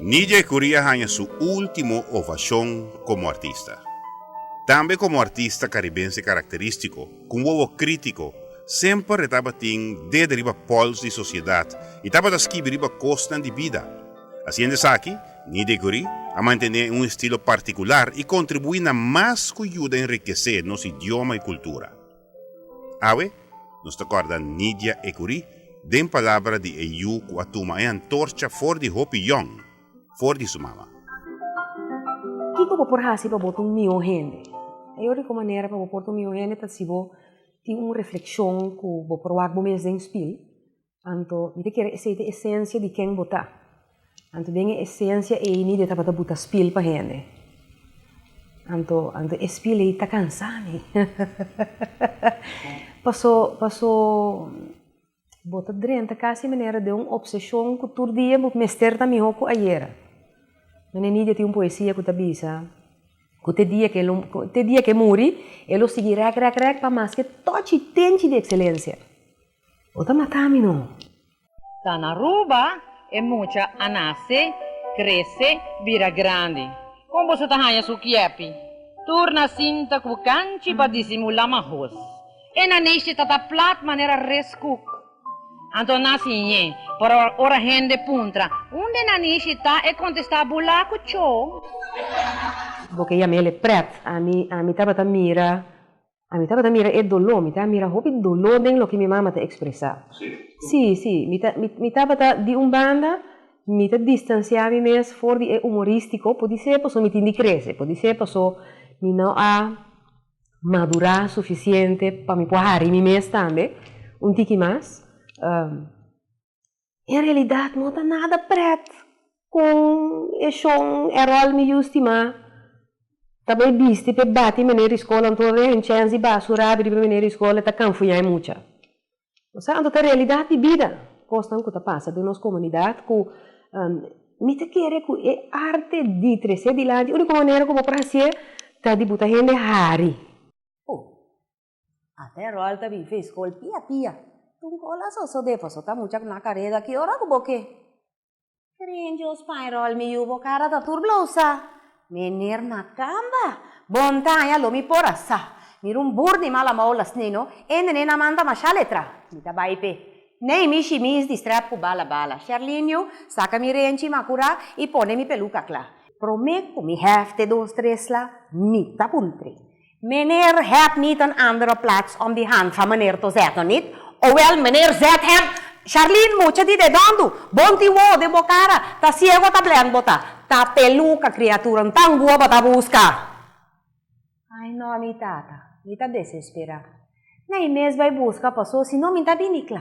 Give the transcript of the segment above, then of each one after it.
Nidje Currie a haña su último ovashon komo artista. Tambe komo artista karibense karakterístiko. Ku un wowo krítiko, semper e tabatin dede riba pòls di sosiedat i tabata skibi riba kosnan di bida. Hasiendo esaki, Nidiguri a mantené un estilo partikular i kontribuí na mas ku yuda enrikesé nos idioma i kultura. Awe nos ta kòrda Nidia Ekuri den palabra di e yu ku a tuma e antorcha for di hopi yòn. for di su mama. Kiko bo por hasi pa bo ta un mihó hende? E yòriko manera pa bo por ta un mihó hende ta si bo tin un reflekshon ku bo por wak bo mes den spil, anto mi ta kere esei ta esensia di ken bo ta. Anto den e esensia ei mi mester tabata buta spil pa hende. Anto anto e spil ei ta kansá mi. Paso paso Bo ta drenta kasi manera den un obseshon ku tur dia bo mester ta mihó ku ayera. Mene Nidia tin un poesia ku ta bisa ku te dia ku e lo te dia ku e muri e lo sigui rèk rèk rèk pa maske tòchi tenchi di ekselensia. Bo ta mata mi no. Ta na Aruba e mucha a nase, krese, bira grandi. Kon boso ta haña su kiepi tur na sinta ku kanchi pa disimulá mahos? E naneshti ta ta plat manera res kuk. Anto nan si ñe. Por ora hende puntra, Unde naneshti ta? E kontestá, Bulá ku cho. Bo ke yam'el e prèt. Ami, ami tabata mira, ami tabata mira e doló, mi ta mira hopi doló den loke mi mama ta ekspresá. Sí, sí, mi ta, mi, mi tabata di un banda, mi ta distansiá mi mes for di e umorístiko, podisé paso mi tin di krese, podisé paso mi no a. madurá sufisiente pa mi por hari mi mes tambe un tiki mas. En realidat no ta nada prèt kon e shon, e ròl mi yusti ma ta bai bisti p'e bati e menera di skol anto e chèns di basurá riba e menera di skol e ta kanfuñá e mucha. Sa anto ta realidat di bida kosnan ku ta pasa den nos komunidat ku mi ta kere ku e arte di tres'é dilanti e úniko manera ku bo por hasié ta di bo ta hende hari. Bo a ta e ròl ta bifi e skol pia pia. Tunkola so so de paso ta mucha ku na kareda ki ora ku bo ke. Krenjo spañrol mi yu bo kara ta tur blousa Meneer Makamba Bon taña lo mi por a sa Mi run bur di mala mou lasni no E nene na manda masha letra Mi ta bai pe Nei mi shi mi is di strep ku bala bala Sherlinio saka mi renchi ma kura I pone mi peluka kla Prome ku mi hèf te dos tres la Mi ta puntre Meneer hèb niet een andere plaats om die hand van meneer to zetten, niet? Owèl, meneer zèt hèm. Charlene, Mucha di de dòndu? Bon ti wou den bo kara? Ta siego o ta blènd bo ta? Ta peluka, kriatura. N ta ngua bo ta buska. Ai nò, mi tata. Mi ta desesperá. Nai mes bai buska paso, si no mi ta bini kla.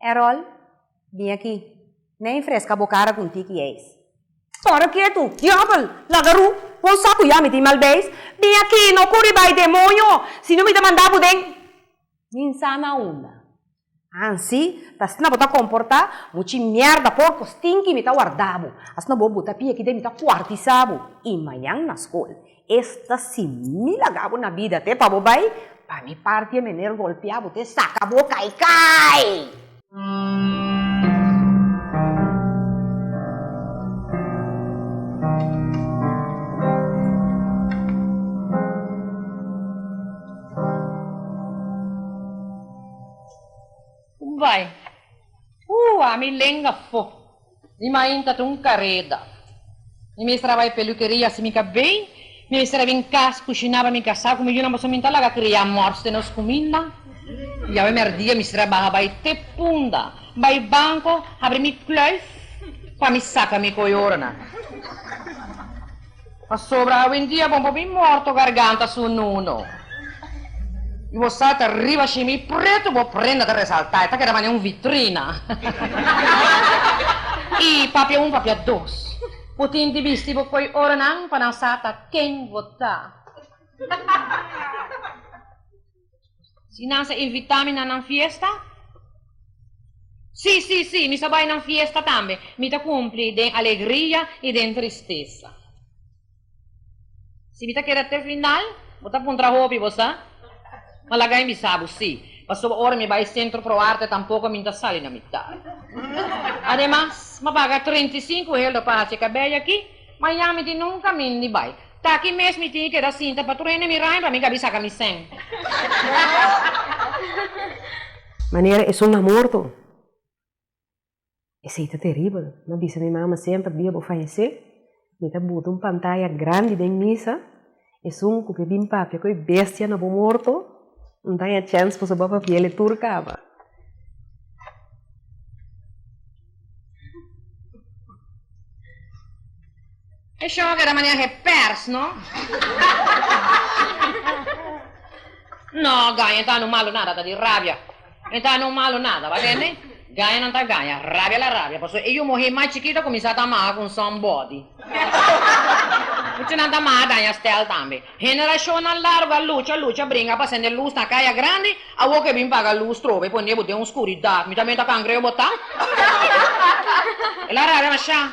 Erol, Bin aki. Ney fresca bo cara cu un tiki eis. Para ketu, diabel! Lagaru! Bo sa cu ya mi tin mal beis? Bin aki, no curi bay demonio, si no mi ta manda bo den. Min sa na unda. Ansi ta asina bo ta comporta? Muchi mierda, porco, stinky, mi ta warda bo. Asina bo buta pia aki den mi ta cuartisa bo y mañan na school. Esta si mi laga bo na bida te pa bo bai, pa mi parti e mener golpia bo te saca bo cai cai! Bai, uh, ami lenga fo. Mi mainta ta un kareda. Mi mester a bai pelukeria. Si mi ka bai, mi mester a bin kas kushiná pa mi kasá ku mi yunan pasobra mi ta laga krea mòrts den nos kuminda. Yawe mèrdia mi mester a baha bai te punda, bai banko, habri mi kluif pa mi saka mi koyorenan. Pasobra awendia bo bo bin morto garganta su nuno, i bo salta riba shimi, i pretu bo prenda ta resaltá, e ta keda manera un vitrina. I papia un, papia dos, bo tin di bisti bo koi oronan pa nan sa ta ken bo ta. Si nan sa invitá mi na nan fiesta? Sí, sí, sí, mi sa bai nan fiesta tambe. Mi ta kumpli den alegria i den tristesa. Si mi ta keda te final, bo ta puntra hopi, bo sa? Ma laga mi bisa bo sí, pasobra ora mi bai Centro Pro Arte tampoko mi no ta sali na mitar. Ademas, mi a paga treinta i sinku helder pa haci e cabello aki. Miami tin nunca min di bai. Ta aki mes mi tin keda sinta pa tur hende mi rain pa mi gabi saca mi seng. Manera esun na morto. Esey ta terribel. Mi a bisa mi mama semper dia bo fayece mi ta buta un pantaya grandi den misa. Esun cu ke bin papia cu e bestia na bo morto, no ta haya chens pa su papia piele tur caba. E shoger a maneha e pers, no? No, Gaye, e ta no malo nada, ta di rabia. E ta no malo nada, bo a tende? Gaña nan ta gaña, rabia la rabia, pasobra e yu muhé mas chikito a kuminsá ta maha ku un somebody. Muchu nan ta maha daña stèl tambe. Henerashonnan largu a lucha, lucha, bringa pa sende lus na kaya grandi, awor ku e bin paga lus trobe i pone bo den un skuridat, mi tambe ta kangreo botá. El a rabia mashá.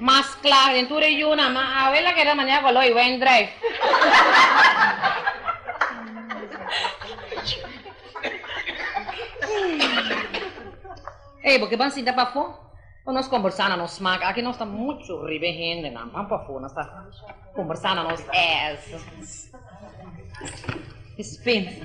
Mas kla den tur e yunan, ma awe la keda manera ku Aloy wen drijf. Ey, bo ke ban sinta pafó? Bo nos kombersá na nos smak. Aki nos ta muchu riba e hendenan. Ban pafó, nos ta kombersá na nos ès. Dispensa.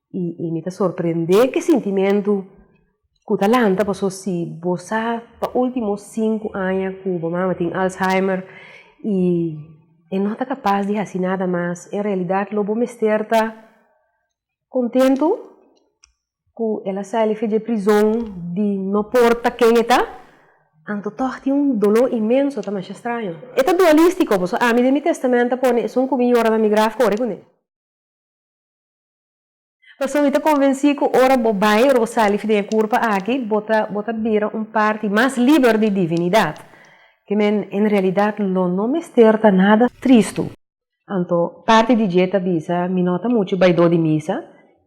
I i mi ta sorprendé ku e sintimentu ku ta lanta paso si bo sa pa ultimo sinku aña ku bo mama tin alzheimer i e no ta kapas di hasi nada mas en realidat lo bo mester ta kontentu ku el a sali fi dje prizon di no por ta ken e ta anto tog tin un doló inmenso ta masha straño e ta dualístiko paso ami den mi testamento a pone esun ku mi yora na mi graf kore kuné. Pasobra mi ta konvensí ku ora bo bai, ora bo sali den e kurpa aki, bo ta bo ta bira un parti mas liber di divinidat. Te men en realidat lo no mester ta nada tristu. Anto parti di dje ta bisa, Mi no ta muchu baidó di misa,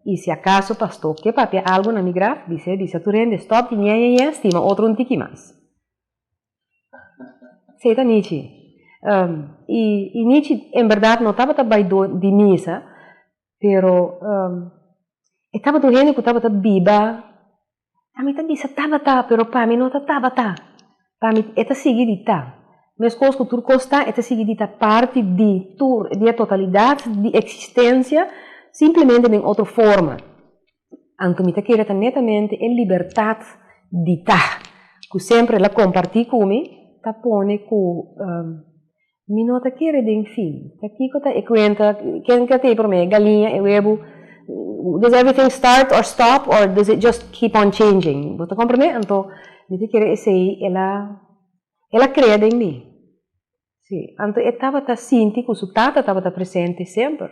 i si akaso pastó ke papia algu na mi graf, bis'é bisa tur hende, Stòp di ñeñeñe, stima otro un tiki mas. Sey ta Nichi i Nichi en berdad no tabata bai dor di misa pero e tabata un hende ku tabata biba ami ta bisa tabata pero pa mi no ta tabata pa mi e ta sigui di ta meskos ku tur kos ta e ta sigui di ta parti di tur di e totalidad di eksistensia simplemente den otro forma Anto mi ta kere ta netamente e libertat di ta, ku semper el a kompartí ku mi, ta pone ku mi no ta kere den fin, ta kiko ta e kuenta, ken ta tin prome, e galiña, e webu, does evriting start or stop or does it just keep on changing, bo ta komprende? Anto mi ta kere esei el a, el a krea den mi. Sí, anto e tabata sinti ku su tata tabata presente semper.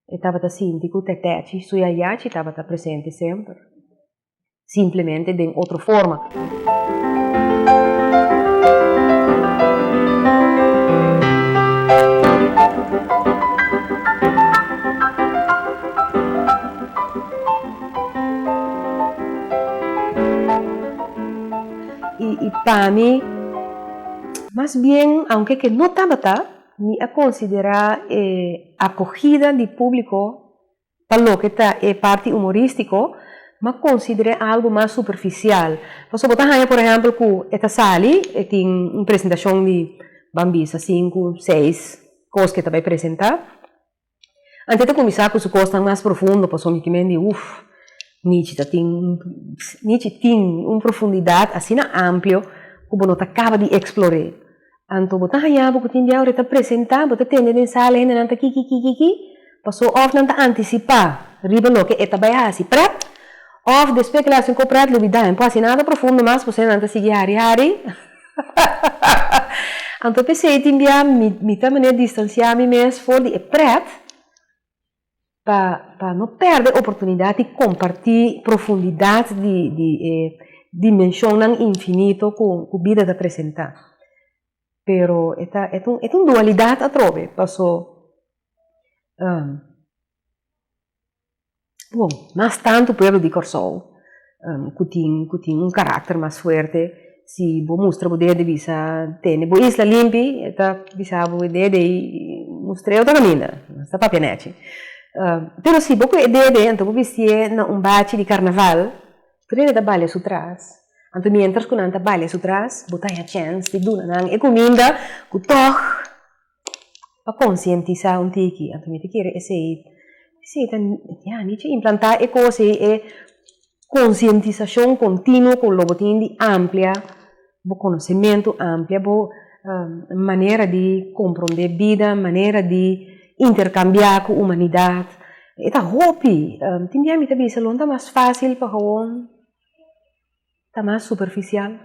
E tabata sinti ku tètèchi, su yayachi tabata presente semper. Simplemente den otro forma. Y pa mi, mas bien, aunke ke no tabata, mi a considera e acogida di publico pa loke ta e parti humoristico, m'a considere algo mas superficial. Pasobra bo ta haya, por ehempel, cu e ta sali, e tin un presentacion di, ban bisa, sinku, seis cos ke ta bay presenta. Ante ta kuminsá ku su kosnan mas profundo pasobra mi kimen di uf, Nichi ta tin Nichi tin un profundidat asina amplio ku bo no ta kaba di eksplor'é. Anto bo ta haña bo ku tin biawe e ta presentá, bo ta tende den sala hendenan ta kikikikiki paso òf nan ta antisipá riba loke e ta bai hasi prèt òf despues ku nan hasi un kos prèt lo bidá. Poi asina ta profundo mas pasobra nan ta sigui hari hari. Anto pesey tin bia mi ta manera distansia mi mes for di e pret pa pa no perde e oportunidad di comparti profundidad di di e dimensionnan infinito cu bida ta presenta, pero e ta e ta e ta un dualidad atrobe paso. bon, mas tantu pueblo di Kòrsou ku tin ku tin un karakter mas fuerte, si bo mustra bo deha di bisa tene bo isla limpi e ta bisa bo e deha di ei mustra e otro kaminda, no ta papia nèchi, pero si bo ku e deha di ei anto bo bistié na un bachi di karnaval tur hende ta balia su tras, anto mientras ku nan ta balia su tras bo ta haña chèns di duna nan e kuminda ku tòg. pa konsientisá un tiki, anto mi ta kere esei esei ta ya mi chi implantá e kos ei e konsientisashon kontinuo ku lo bo tin di amplia bo konosementu amplia bo manera di komprondé bida manera di interkambiá ku humanidat e ta hopi tin bia mi ta bisa lo bo ta mas fásil pa hawon Ta mas superficial.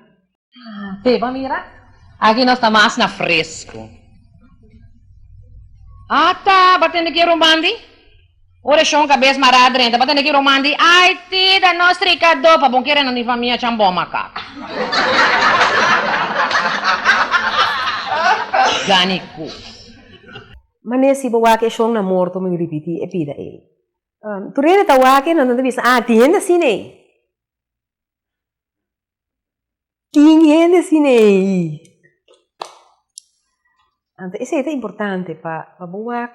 Te pa mira. Aki nos ta mas na fresco. Ata pa tende ki ruman di. Oracion cabes mara drenta pa tende ki ruman di Haiti ta nos strica do pa bon kere nan di famia chan bon macaco. Gani cos. Mane si bo wak e shon na morto mi ripiti e pida ey. Turene ta wak e nan ta bisa ah tin hende asina ey. Tin hende sina ei. Anto esei ta importante pa bo wak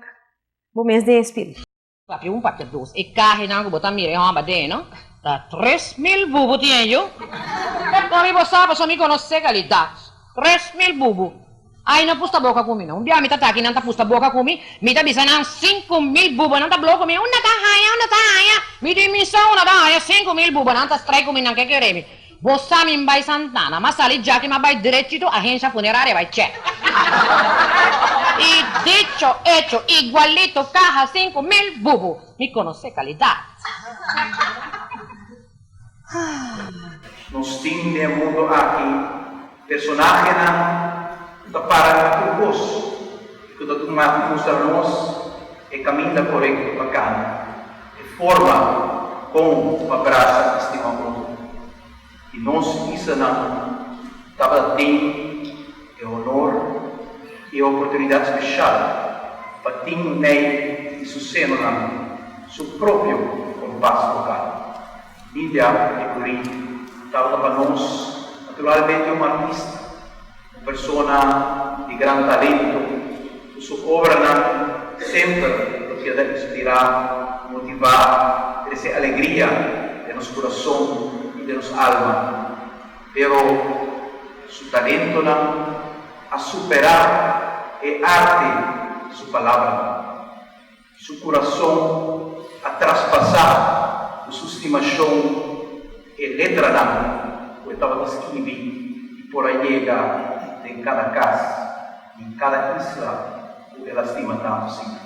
bo mes den spiritu. Papia un papia dos. E cahenan cu bo ta mira e homba den no ta tres mil bubu tien yo. Con mi bo sa pasobra mi conoce calidad. Tres mil bubu. Ai no pusta boka ku mi no. Un bia mi ta ta aki nan ta pusta boka ku mi, mi ta bisa nan sinku mil bubonan ta blou ku mi, unda ta haña, unda ta haña? Mi tin misa unda ta haña sinku mil bubonan ta strai ku mi nan ke kere mi. Bo sa mi m'bai Santana, m'a sali djaki m'a bai drechito ahensia funeraria bai chè. I dicho echo, igualito kaha sinku mil bubu, mi konosé kalidat. Nos tin den e mundu aki personahenan ku ta para pa tur kos i ku ta dun matu mustra nos e kaminda korekto pa kanda, e forma kon pa brasa i stima otro. I nos isanan tabata den. E honor i e oportunidat special pa tin mei di su senonan su propio compas vocal. Bibia e curi tabata pa nos naturalmente un artista, un persona di gran talento cu su obranan semper lo keda inspira, motiva, trece alegria den nos curason i den nos alma. Pero su talentonan a superá e arte di su palabranan. Su kurason a traspasá ku su stimashon e letranan ku e tabata skirbi i por a yega den kada kas i kada isla ku el a stima tantu. Siña.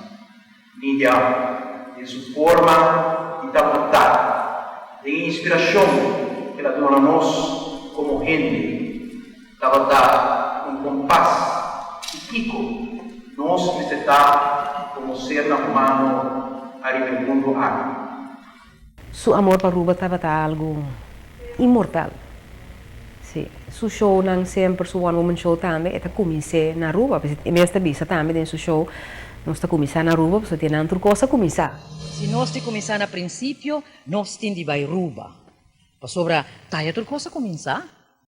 Miriam, den su forma di ta botá, den e inspirashon ku el a duna nos komo hende, tabata un kompas di kiko nos mester ta komo ser humano ariba e mundu aki. Su amor pa Aruba tabata algu inmortal. Sí, su shownan semper, su one woman show tambe, e ta kumins'é na Aruba. Pasobra e mes ta bisa tambe den su show, Nos ta kuminsá na Aruba pasobra tienan tur kos ta kuminsá. Si nos tin kuminsá na prinsipio, nos tin di bai Aruba. Pasobra ta ya tur kos ta kuminsá.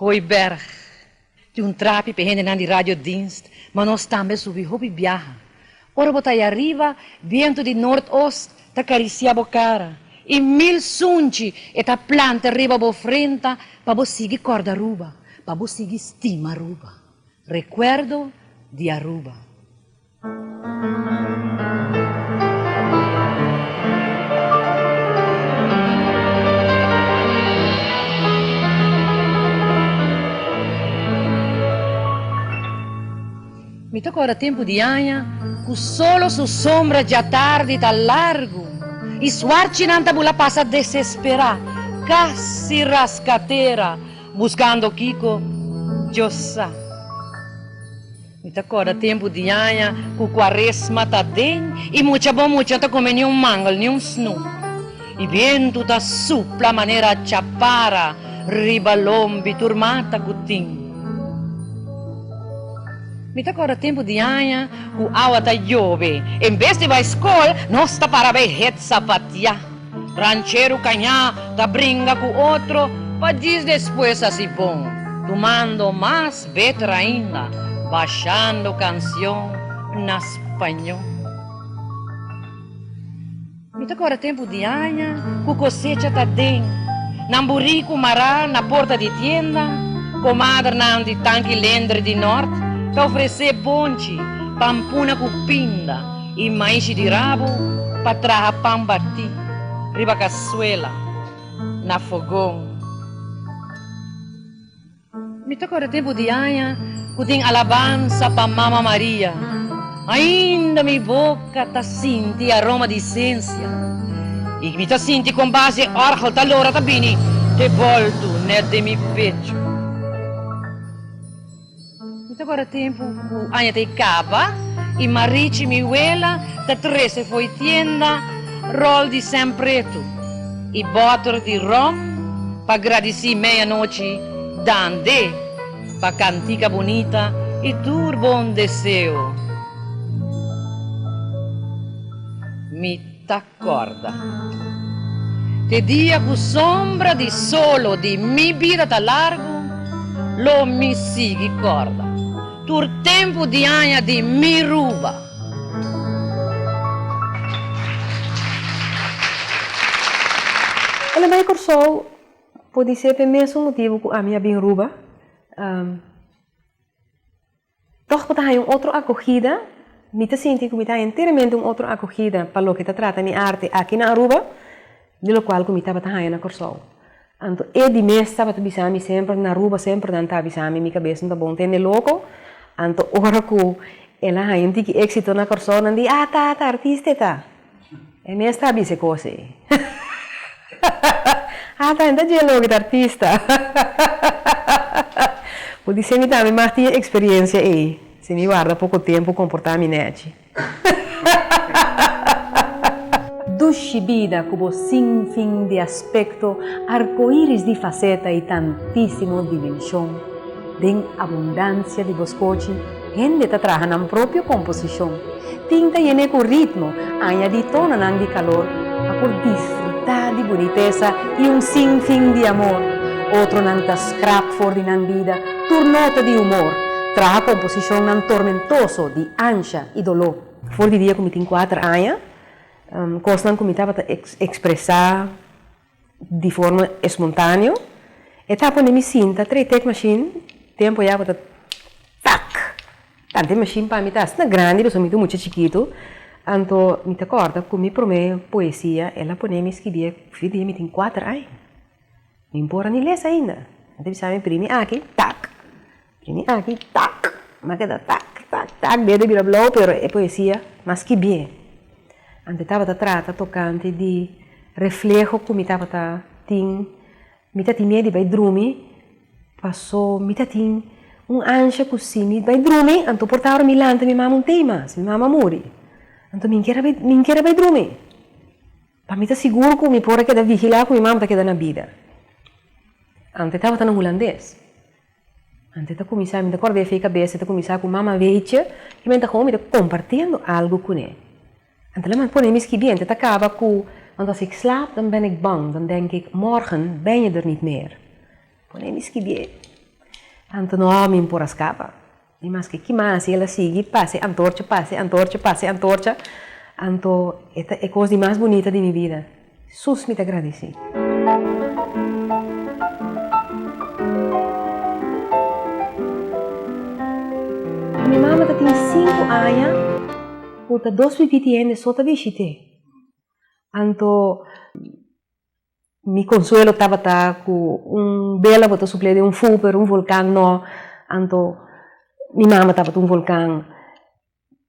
Hooiberg, Tin un trapi p'e hendenan di radiodienst, ma nos tambe subi hopi biaha. Ora bo ta aya riba, bientu di nort-ost ta karisiá bo kara, i mil sunchi e ta planta riba bo frenta pa bo sigui kòrda Aruba, pa bo sigui stima Aruba. Rekuerdo di Aruba. Mi ta kòrda tempu di aña ku solo su sombra djatardi ta largu i suarchinan ta bula pasa desesperá, kasi raska tera buskando kiko djosa. Mi ta corda tempo diaña cu cuaresma ta den y mucha bo mucha ta come ni un mangel ni un snoep y bientu ta supla manera chapara riba lombi tur mata cu tin. Mi ta corda tempo diaña cu awa ta yobe, en bes di bay scol nos ta para bay het zapatia. Ranchero cañá ta bringa cu otro pa dis despues a si bon, tumando mas beter ainda, bashando cancion na spañol. Mi ta cora tempo di aña cu cosecha ta den, nan buricu mará na porta di tienda, comadrenan di Tanki Lender di Nort ta ofrece bonchi, pampuna cu pinda, I maishi di rabu pa traha pan batí riba kasuela na fogon. Mi ta korda tempu di aña ku tin alabansa pa Mama Maria. Ainda mi boka ta sinti aroma di isensia i mi ta sinti kon bas e orgel ta logra ta bini te boltu nèt den mi pechu. Mi ta guarda tempu ku aña ta e kaba i Marichi, mi wela, ta trese fo'i tienda ròl di sèn pretu i bòter di ròm pa gradisí meyanochi dande pa kantika bunita i tur bon deseo. Mi ta. Kòrda. Te dia ku sombra di solo di mi bida ta largu, lo mi sigui kòrda tur tempu di aña di mi ruba. Ora mi bai Kòrsou, pudi ser p'e mesun motibu ku ami a bin ruba. Tòg ku ta haña un otro akogida, mi ta sinti ku mi ta haña enteramente un otro akogida pa loke ta trata mi arte aki na Aruba di lokual ku mi tabata haña na Kòrsou. Anto e di mes tabata bisa mi semper, na Aruba semper nan ta bisa mi, mi kabes no ta bon tende loko. Anto ora ku el a haña un tiki éksito na Kòrsou, nan di, Ah, ta, ta artista e ta. E mes ta bisa e cos ey. Ata hen ta djee loke ta artista. Cu di simi tambe mag tin e experiencia ey, si mi warda poco tempo comporta mi nechi. Dushi bida cu bo sin fin di aspecto, arcoiris di faceta y tantisimo dimension. Den abundancia di bo scochi. Hende ta traha nan propio komposishon. Tinta yené ku ritmo, añadí tononan di kalor pa por disfrutá di bunitesa i un sinfin di amor. Otronan ta skrap for di nan bida tur nota di humor, traha komposishonnan tormentoso di ansha i doló. For di dia ku mi tin kuater aña, kosnan ku mi tabata ekspresá Di forma espontaneo e ta pone mi sinta trei tek mashin tempo ya ku ta tak tanti mashin pa mi ta asina grandi pasobra mi ta un mucha chikitu anto mi ta kòrda ku mi promé poesia el a pone mi skirbi e fin di mi tin kuater aña mi por a ni les ainda mi ta bisa mi primi aki tak. Ini aki tak, ma ke ta tak, tak, tak, bia ta bira blou pero e poesia mas ki bien. Anto tabata trata tocante di refleho cu mi tabata tin, mi ta tin miedo di bai drumi paso mi ta tin un ansha cu si mi bai drumi anto por ta ora mi lanta mi mama un tei mas, mi mama a muri, anto mi keda bai, mi keda bai drumi pa mi ta sigur cu mi por a keda vigila cu mi mama ta keda na bida. Anto e tabata na Hulandes. Ante ta kuminsá, mi ta korda efei kabes, e ta kuminsá ku mama veitje, i men ta homi ta kompartiendo algu kuné. Ante laman pone mi skibí, ante ta kaba ku, Want as ik slaap, dan ben ik bang, dan denk ik, Morgen ben je er niet meer. Pone mi skibí, tantu no, mi por a skapa. I maske ki mas i el a sigui pase antorcha, pase antorcha, pase antorcha, anto e ta e kos di mas bunita di mi bida. Sus mi ta gradisí! Mi mama ta tin sinku aña ku ta dos pipiti hende so ta bishit'é, anto. Mi consuelo tabata cu un bela bo ta suple den un fuu pero un volcan no, anto mi mama tabata un volcan.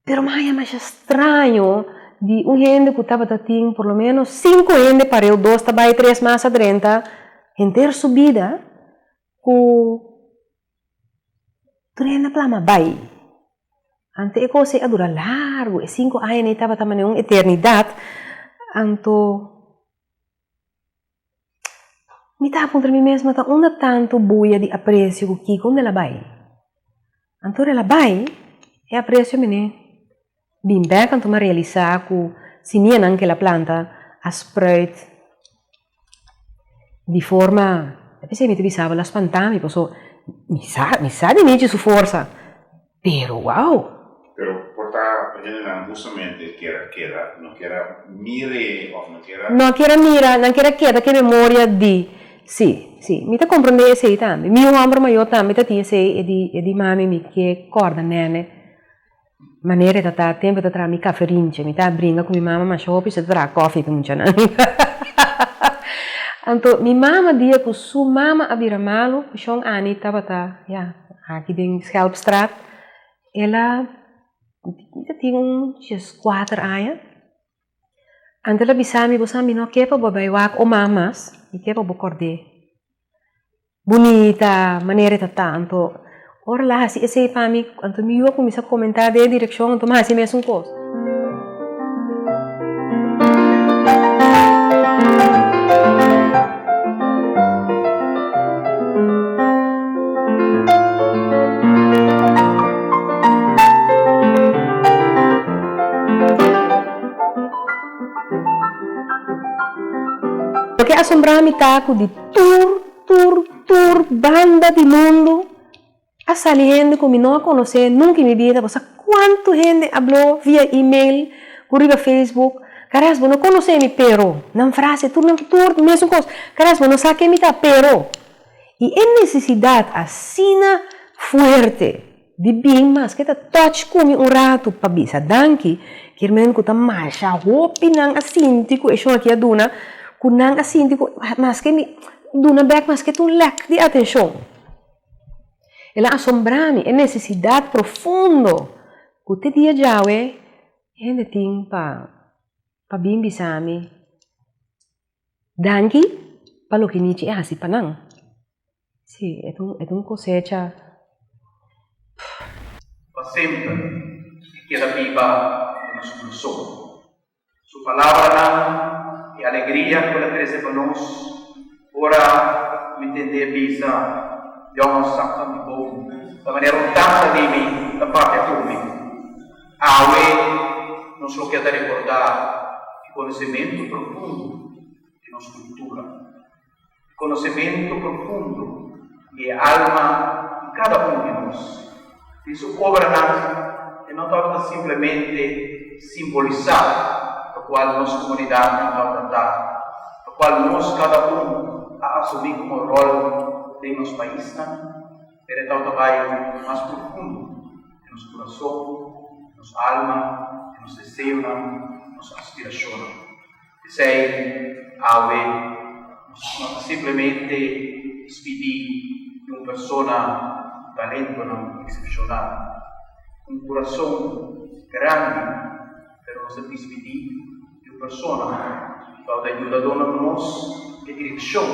Pero mi a haya masha straño di un hende cu tabata tin por lo menos cinco hende pareu, dos ta bay tres mas adrenta henter su bida cu Tur hende a pla ma bai. Anto e cosa ei a dura largu, e sinku aña nei tabata manera un eternidat, anto mi ta puntra mi mes, mata unda tantu bulla di aprecio ku kiko, unda el a bai? Anto ora el a bai, e aprecio menen Bin bek anto m'a realisá ku simianan kel a planta a spruit di forma, a pes'ei mi ta bisaba lo a spantá mi paso mi sa mi sa di nichi su forsa pero wow! Pero por ta hendenan hustamente kier a keda, no kier a mir'e òf no kier a. No kier a mira, nan kier a keda ke memoria di si, si mi ta komprendé esei tambe. Mi hòmber mayó tambe ta tin esei e di e di mami mi ke kòrda nène. Manera e ta ta tempo e ta traha mi caferinche mi ta bringa cu mi mama ma shopi she ta traha cofi pa muchanan anto mi mama dia cu su mama a bira malo cu shon ani tabata ya aki den schelpstraat ela mi ta tin un dies cuater aña Angela bisa mi, Bo sa mi no ke pa bo bai wak o man mas, mi ke pa bo kòrd'é bunita, manera e ta ta. Anto ora el a hasi esei pa mi, anto mi yu a kuminsá komentá den e direkshon, anto mi a hasi e mesun kos. Lo ke asombrá mi ta ku di tur, tur, tur banda di mundu A sali hende ku mi no a konosé nunka i mi bida, bo sa kuantu hende habló via email ku riba facebook, karas bo no konosé mi pero, nan frase tur nan ki tur mesun kos, karas bo no sa ke mi ta pero, i e nesesidat asina fuerte di bin maske ta touch ku mi un ratu pa bisa danki, kier men ku ta masha hopi nan a sinti ku e shon aki a duna, ku nan a sinti ku maske mi duna bèk maske ta un lèk di atenshon. El a asombrá mi, e nesesidat profundo ku te dia djawe hende tin pa bin bisa mi danki pa loke Nichi a hasi pa nan. Sí, e ta un kosecha. Pa semper e keda biba den nos kurasón. Su palabranan e alegria ku el a trese pa nos. Ora mi tende e bisa, Djòw a sak pa mi bon, ta manera un tasa di mi ta papia ku mi. Awe nos lo ke ta rekordá e konosementu profundo di nos kultura. konosementu profundo di e alma di kada un di nos. Den su obranan, e no tabata simplemente simbolisá lokual nos komunidatnan tabata ta, lokual nos kada un a asumí komo ròl den nos paisnan, pero e tabata bai mas profundo den nos kurason, nos alma, den nos deseonan, nos aspirashonnan. P'esei, awe no ta simplemente spidi di un persona ku talentonan eksepshonal, ku un kurason grandi, pero nos ta dispidi di un persona ku au ta yuda duna nos e direkshon.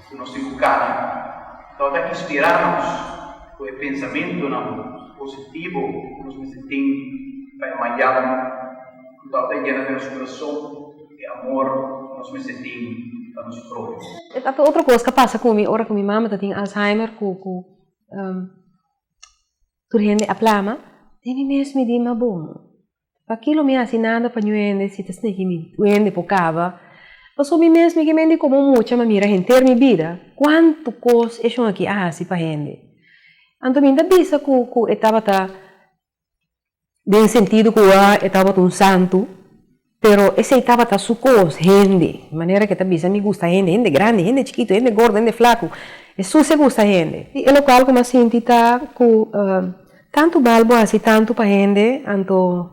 ku nos tin ku kada lo ta inspirá nos ku e pensamentunan positivo ku nos mester tin pa e manyan ku lo ta yena den nos kurason ku e amor ku nos mester tin pa nos próhimo. E ta ku otro kos ta pasa ku mi ora ku mi mama ta tin Alzheimer ku ku tur hende a plama den mi mes mi di ma bon. Paki lo mi hasi nada pa ñu hende si ta snegi mi duende por caba? Pasobra mi mes mi ke men di como un mucha ma mira henter mi bida. Cuanto cos e shon aki a hasi pa hende. Anto mi ta bisa cu cu e tabata den e sentido cu a e tabata un santo, pero esey tabata su cos, hende. E manera cu e ta bisa mi gusta hende, hende grandi, hende chikito, hende gordo, hende flaco, e sucia gusta hende. Y e local como a sinti ta cu. Tantu bal bo hasi tantu pa hende, anto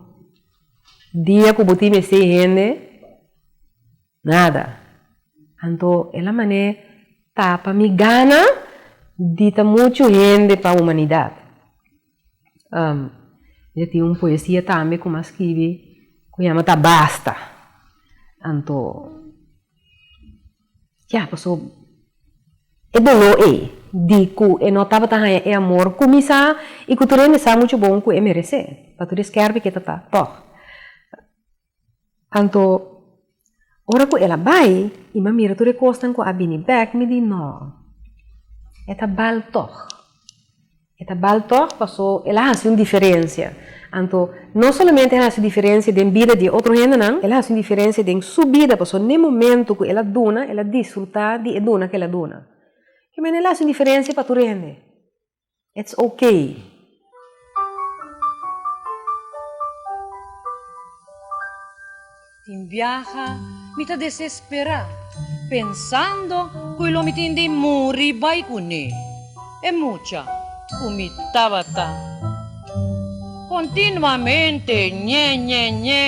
dia ku bo tin mester e hende? Nada. Anto el a manera e tapa mi gana di ta muchu hende pa humanidat. Mi a tin un poesia tambe ku mi a skibi ku yama ta Basta. Anto. Ya, paso e doló ei di ku e no tabata haña e amor kuminsá i ku tur hende sa muchu bon ku e meresé, pa tur e skèrpi ku e ta ta tòg. Anto, ora ku el a bai i mi a mira tur e kosnan ku a bini bèk, mi di, No, e ta bal tòg. E ta bal tòg pasó el a hasi un diferensia. Anto, no solamente el a hasi diferensia den bida di e otro hendenan, el a hasi un diferensia den su bida, pasó n'e momentu ku el a duna, el a disfrutá di e duna ku el a duna. Ke manera el a hasi un diferensia pa tur e hende? Ets okay. Tin biaha mi ta desesperá pensando ku e lo mi tin di muri bai kuné e mucha ku mi tabata kontinuamente ñe ñe ñe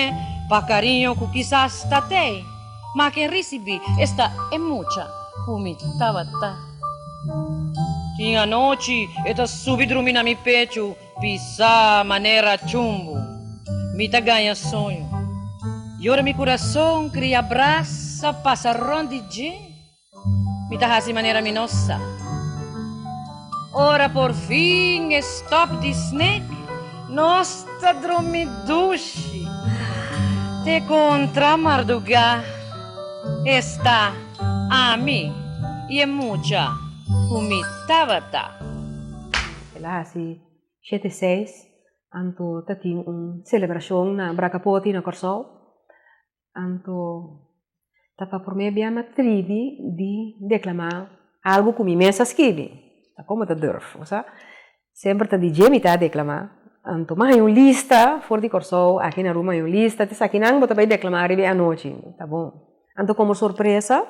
pa kariño ku kisas ta t'ei ma ken risibí esta e mucha ku mi tabata. Tin anochi e ta subi drumi na mi pechu. Pisa manera chumbu mi ta gaña soño. Yora mi kurason kria brasa pasa rònt di dje mi ta hasi manera mi no sa. Ora por fin e stòp di snek nos ta drumi dushi te kontra mardugá. Esta ami i e mucha ku mi tabata. El a hasi shete i seis, anto ta tin un selebrashon na Bracapoti na Kòrsou. Anto ta pa promé bia mi a tribi di deklamá algu ku mi mes a skibi. Ta kon mi ta durf? Bo sa, semper ta di dje mi ta deklamá. Anto mi a haña un lista for di Kòrsou, aki na Ruma a haña un lista, ti esakinan bo ta bai deklamá riba e anochi. Ta bon. Anto komo sorpresa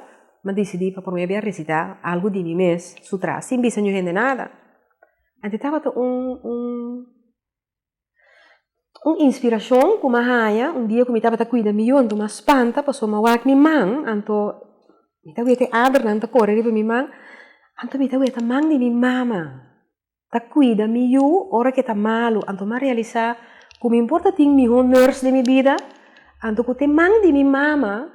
mi disidí pa promé bia risitá algu di mi mes su tras sin bisa ñu hende nada. Anto tabata un inspirashon ku mi a haña un dia ku mi tabata kuida mi yu anto mi a spanta pasobra mi a wak mi man anto mi ta wet e adernan ta kore riba mi man anto mi ta wet a man di mi mama. ta cuida mi yu ora ke ta malu, anto m'a realisa cu min por ta tin miho nurse den mi bida, anto cu te man di mi mama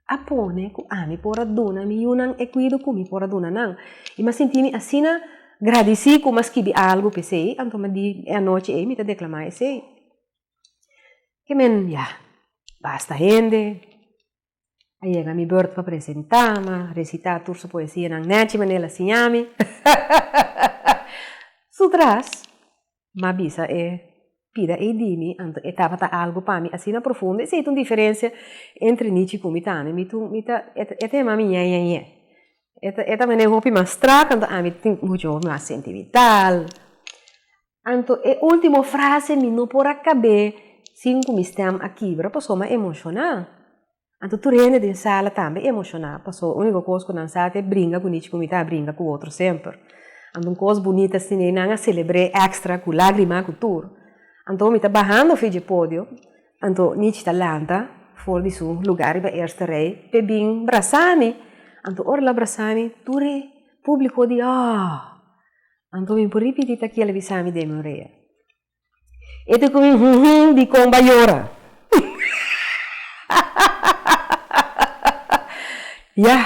a pone cu ami por a duna mi yunan e cuido cu mi por a duna nan. I m'a sinti mi asina gradici cu m'a skibi algu p'esey, anto m'a di e anochi ey mi ta declama esey. Ke men ya basta hende. A yega mi beurt pa presentá, ma resitá tur su poesianan nèchi manera a siña mi. Su tras, m'a bisa e pida ei di mi, anto e tabata algu pa mi asina profundo, esei ta un diferensia entre Nichi ku mi tambe. Mi tu, mi ta, e ta yamami ñeñeñe. E ta, e ta manera hopi mas strak, anto ami tin muchu mas sentimental. Anto e ultimo frase mi no por a kab'é sin ku mi stèm a kibra pasobra mi a emoshoná. Anto tur hende den sala tambe a emoshoná pasobra úniko kos ku nan sa ta e bringa gunichi ku mi ta bringa ku otro semper. Anto un kos bunit así nei nan a selebr'é èkstra ku lágrima ku tur. Anto mi ta bahando fi dje podio, anto Nichi ta lanta for di su lugá riba e eerste rij p'e bin brasami. Anto ora el a brasami tur e públiko di aa! Anto mi por ripiti ta kiel a bisa mi den mi orea. E ta komi huhumm dikon bo a yora. Yah.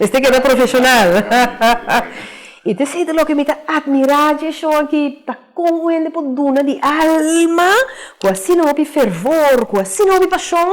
Mester keda profeshonal. I ta esei ta loke mi ta atmirá dje shon aki, ta kon un hende por duna di alma ku asina hopi fervor, ku asina hopi pashon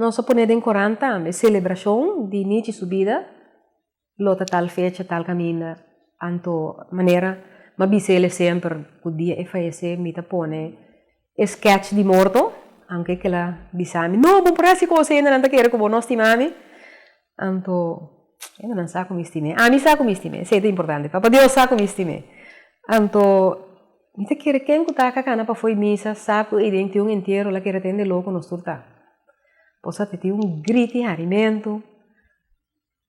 Nos a pone den korant tambe selebrashon di Nichi su bida, lo ta tal fecha, tal kaminda, anto manera m'a bisa el'e semper ku dia e fayesé mi ta pone e skèch di morto, aunke kel a bisa mi, No, bo por hasi kos ei na nan ta kere ku bo no stima mi. Anto eno nan sa ku mi stim'é. Ami sa ku mi stim'é, esei ta importante. Papa Dios sa ku mi stim'é. Anto mi ta kere ken ku ta kakana pafui misa sa ku ei den tiun entiero la kere tende lo ku nos tur ta. Pues a titi un grit di harimentu.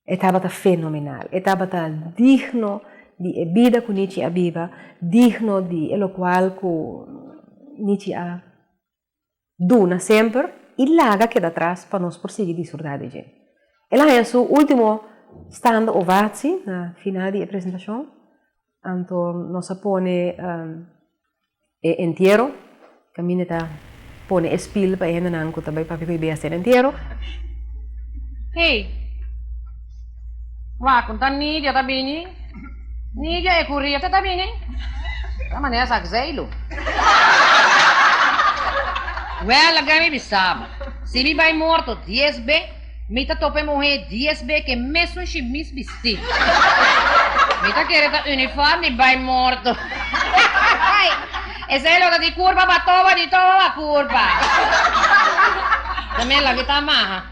E tabata fenomenal. E tabata digno di e bida ku Nichi a biba, digno di e lokual ku Nichi a Duna semper i laga keda atras pa nos por sigui disfrutá di dje. El a haña su último standa ovatsi na final di e presentashon, anto nos a pone e entiero, kaminda ta pone e spiel pa e hendenan ku ta bai papia ku e bias den entiero. Hey! Wak, un ta Nidia ta bini. Nidia e ku Rieke ta bini? Esa manera sa gzeilu. Wèl, a gami mi saba. Si mi bai morto dies be, mi ta topa e muhé dies be ke mesun shimis bistí. Mi ta kere ta unifòrm di bai morto. Ai, esei lo ta di kurpa pa toba di toba ba kurpa. Tambe lo ki ta maha.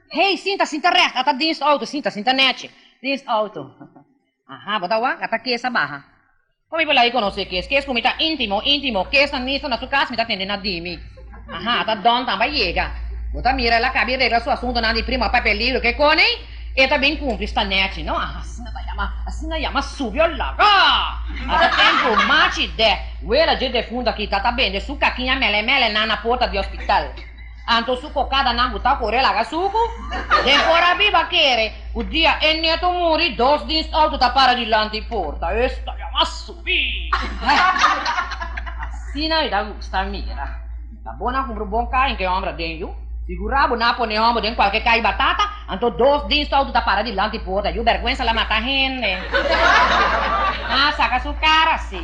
Hey, sinta, sinta recht, ata dienstauto, sinta, sinta nechi. Dienstauto, Aha, bo ta wak, ata Kees a baha. Kon mi por lei konosé Kees? Kees ku mi ta intimo, intimo, Kees ta nisto na su kas, mi ta tende na di mi. Aha, ata Don tambe a yega. Bo ta mira, el a kabi regla su asuntonan di prima pa peligro, ke koni? E ta bin kumpli sta nechi, no? Aha, asina ta yama, asina yama subio loco! Ata tempu machi dè, wela dje defuntu aki, tata bende su kakiña mele, mele nan na porta di hospital. Anto su kokadanan bu ta por e laga suku? Den por a biba kere ku dia e neto muri dos dienstauto ta para dilanti e porta. Esta ya mas subí! Asina mi ta gusta mira. Ta bon a kumpra un bon kai en ke hòmber aden yu? Sigurá bo na pone hòmber den kualke kai batata, anto dos dienstauto ta para dilanti e porta. Yu bèrgwensa la mata hende. Haa saka su kara si.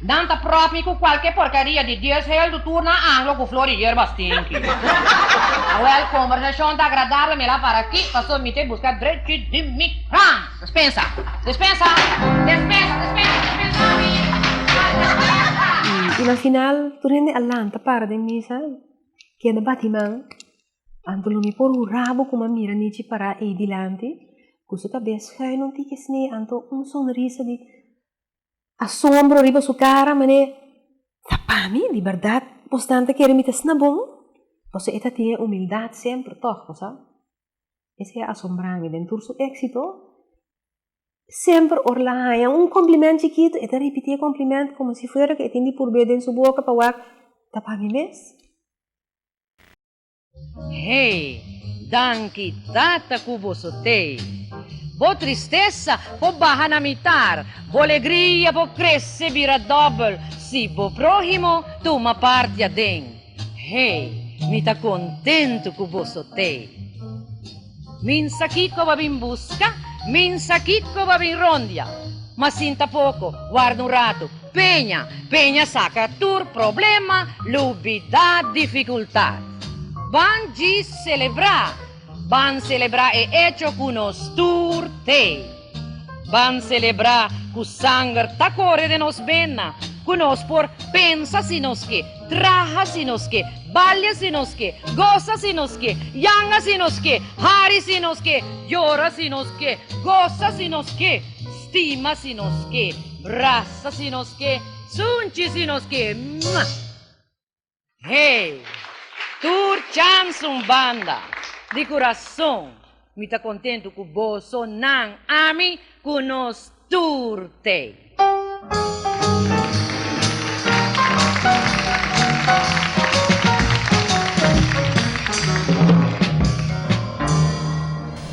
Nan ta propi cu cualke porcaria di dies hel do tur nan anglo cu flor di yerba stinky. Awel, conversacion ta agradable mira para aki, pasobra mi ta e busca drechi di mi ran. Despensa! Despensa! Despensa! Despensa! Despensa mi! Ay despensa! Y na final tur hende a lanta para den misa y keda bati man. Anto lo mi por hura bo cu mi a mira Nichi para ey dilanti cu su cabes schuin un tikesnee anto un sonrisa di. asombro riba su kara manera ta pa mi di bèrdat bos nan ta kere mi ta sna bon? Pasobra e ta tin e humildat semper tòg bo sa. Esei a asombrá mi den tur su éksito, semper ora el a haña un kòmplimènt chikitu e ta ripití e kòmplimènt komo si fuera ku e tin di purbé den su boka pa wak ta pa mi mes. Hey, danki Tata ku bo so tey. Bo tristesa por baha na mi tar, bo legria por krese bira dòbel si bo próhimo tuma parti aden. Hey, mi ta kontentu ku bo so tey. Minsa kiko bo a bin buska? Minsa kiko bo a bin rondia? Ma sinta poko, warda un ratu, peña, peña saka tur problema, lubidat, difikultat. Ban djis selebrá! Ban selebrá e echo ku nos tur te. Ban selebrá ku sanger ta kore den nos bena, ku nos por pensa si nos ke, traha si nos ke, balia si nos ke, gosa si nos ke, yanga si nos ke, hari si nos ke, yora si nos ke, gosa si nos ke, stima si nos ke, brasa si nos ke, sunchi si nos ke. Mah! Hey! Tur chams un banda, di kurason mi ta kontentu ku boso nan ami ku nos tur tei.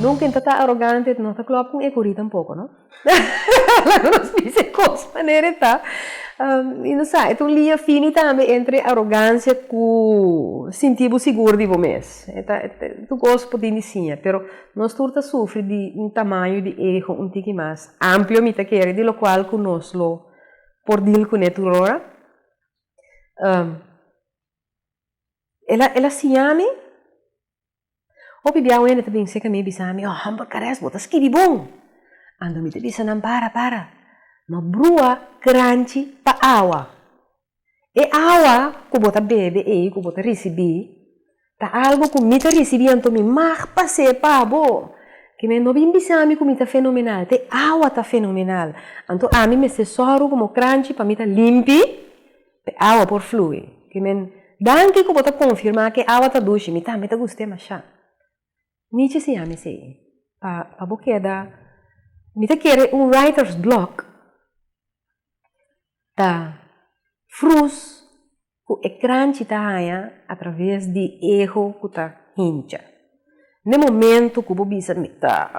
Nunka e no ta ta arogante, e no ta klop kon e kurí tampoko, no. laga nos bisa e cos manera e ta, y no sa, e ta un liña fini tambe entre arogancia cu sinti bo sigur di bo mes, e ta tu cos por tin di siña, pero nos tur ta sufri di un tamaño di ego un tiki mas amplio mi ta kere, di locual cu nos lo por deal cune tur ora, el a siñami Hopi bia wende ta bin seca mi y bisa mi, Oh, Humble Cares, bo ta skibi bon! Ando mi ta bisa nan para, para. Ma brua cranchi pa awa. E awa cu bo ta bebe ey, cu bo ta ricibi, ta algo cu mi ta ricibi anto mi mag pase pa bo. Ki men no bin bisa mi cu mi ta fenomenal, ta e awa ta fenomenal. Anto ami mester zorgo como cranchi pa mi ta limpi. E awa por flui. Ki men, Danki ku bo ta konfirmá ku e awa ta dushi. Mi tambe ta gusta e mashá. Nichi siña mi esei, pa pa bo keda. Mi ta kere un writer's block ta frus ku e kranchi ta haña atraves di eho ku ta hincha. Ne momento ku bo bisa mi ta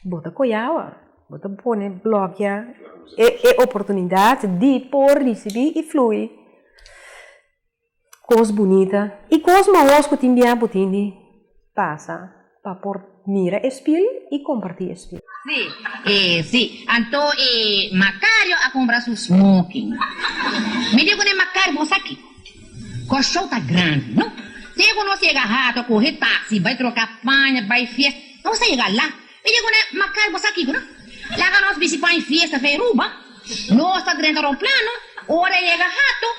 bo ta koyaba bo ta pone blokia e oportunidat di por risibi i flui kos bunita i kos maos ku tin bia bo tin di pasa pa por mira e spil i komparti e spil. Si, e si. Anto e Makario a kumbra su smoking. Mi di ku ne Makario, Bo esaki? Kos show ta grandi, no? Te ku nos yega hato kohe taksi, bai troka paña, bai fiesta, nos ta yega la. Mi di ku nan, Makar boso a kiko no? Laga nos bisi paña fiesta fe Aruba, nos ta drenta romplano, ora e yega hato,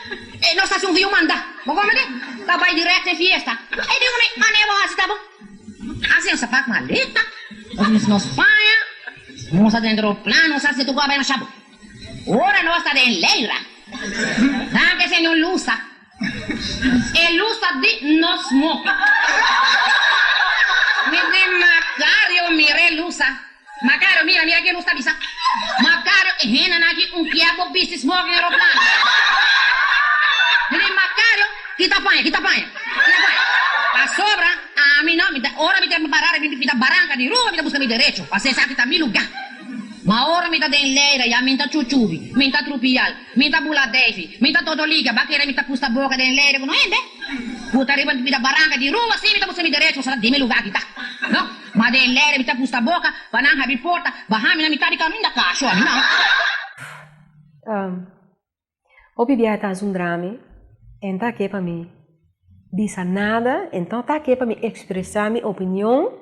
e nos ta hasi un viumanda, bo komprende? Ta bai dirèkt fe fiesta. Mi di ku nan, Mané bo hasi ta bon. Hasi nos a pak maleta, nos bisi nos paña, nos a drenta romplano, nos a hasi tu ku a bai masha bo. Ora nos ta den leira, Granti Señor lusa, E lusa di nos moki. Mi di Macario, Mira e lusa, Macario, mira, mira kies nos ta bisa, Macario, E hennan aki un kier bo bisti smoke den eroplano. Mi di Macario, Kita paña, kita paña, kita paña. Pasobra ami no, mi ta, ora mi ta para, mi ta baranca di rumba, mi ta busca mi derecho, pasobra esaki ta mi lugar. Ma ora mi ta den Leira ya min ta chuchubi, min ta trupial, min ta bula defi, min ta todo liga, ba kere mi ta pusta boka den Leira ku no hende? Puta riba mi ta baranka di rumba si mi ta buska mi derecho pa sala di mi luga di ta. No, ma den Leira mi ta pusta boka pa nan habri porta, baha mi na mitad di kaminda ka shor mi nan. Hopi bia e ta hasi un drami e nta ke pa mi bisa nada e nta ta ke pa mi ekspresá mi opinion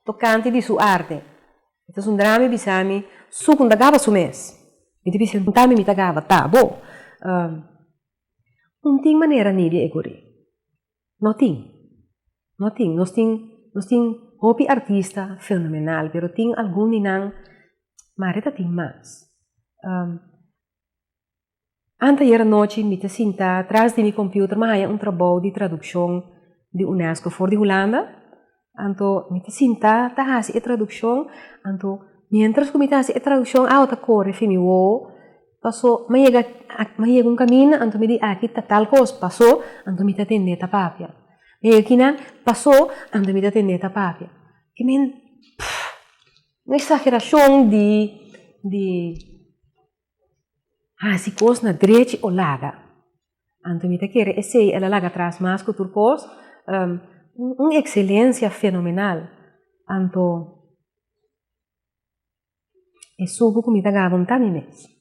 tokante di su arte. E ta hasi un drami e bisa mi su ku nta gaba su mes. Mi ta bisa el punta mi mi ta gaba ta bo no tin manera nibi e kuri no tin no tin nos tin nos tin hopi artista fenomenal pero tin algun di nan mari ta tin mas. Anteayer anochi mi ta sintá tras di mi kompüter mi a haña un trabou di tradukshon di unesco for di Hulanda. Anto mi ta sintá ta hasi e tradukshon, anto miéntras ku mi ta hasi e tradukshon awa ta kore fin mi wowo. Pasó mi a yega mi a yega un kaminda anto mi di aki ta tal kos, pasó anto mi ta tende ta papia. Mi a yega kinan, pasó anto mi ta tende ta papia. Ke men. Un eksagerashon di di hasi kos na drechi o laga. Anto mi ta kere esei, el a laga tras mas ku tur kos. Un ekselensia fenomenal, anto e sugu ku mi ta gaba un ta mi mes.